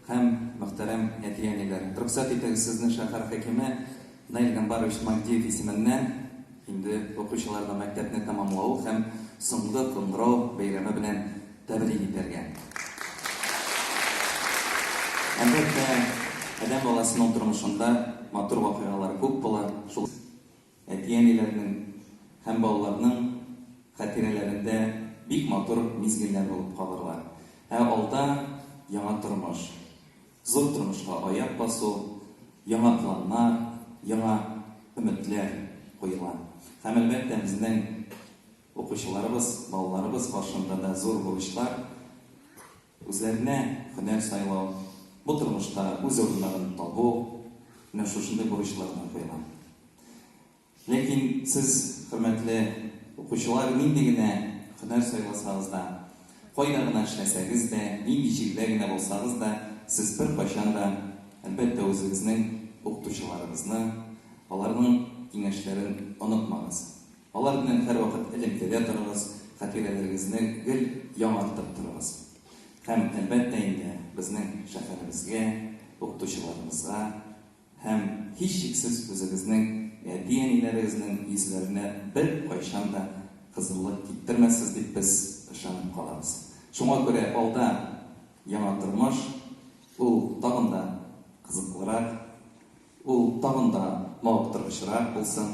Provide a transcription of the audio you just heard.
Һәм, мөхтәрәм әти-әниләр, рөхсәт итегез сезне шәһәр хакиме Наил Гамбарович Магдиев исеменнән инде укучыларга мәктәпне тәмамлау һәм соңгы кыңгырау бәйрәме белән тәбрик итәргә. Әлбәттә, адәм баласының тормышында матур вакыйгалар күп була, шул. Әти-әниләрнең һәм балаларның хатирәләрендә бик матур мизгелләр булып калырлар. Ә алда, яңа тормыш. Зур тормышка аяк басу, яңа планнар, яңа өметләр куела. Һәм, әлбәттә, безнең укучыларыбыз, балаларыбыз каршында да зур бурычлар, Үзләренә һөнәр сайлау, бу тормышта үз урыннарын табу, менә шушындый бурычлар гына куелган. Ләкин сез, хөрмәтле укучылар, нинди генә һөнәр сайласагыз да, кайда гына эшләсәгез дә, нинди җирдә генә булсагыз да, сез беркайчан да, әлбәттә, үзегезнең укытучыларыгызны, аларның киңәшләрен онытмагыз. Алар белән һәрвакыт элемтәдә торыгыз, хатирәләрегезне гел яңартып торыгыз. Һәм, әлбәттә инде, безнең шәһәребезгә, укытучыларыбызга һәм, һичшиксез, үзегезнең әти-әниләрегезнең йөзләренә беркайчан да кызыллык киптермәссез дип без ышанып калабыз. Шуңа күрә алда яңа тормыш, ул тагын да кызыклырак, ул тагын да мавыктыргычрак булсын!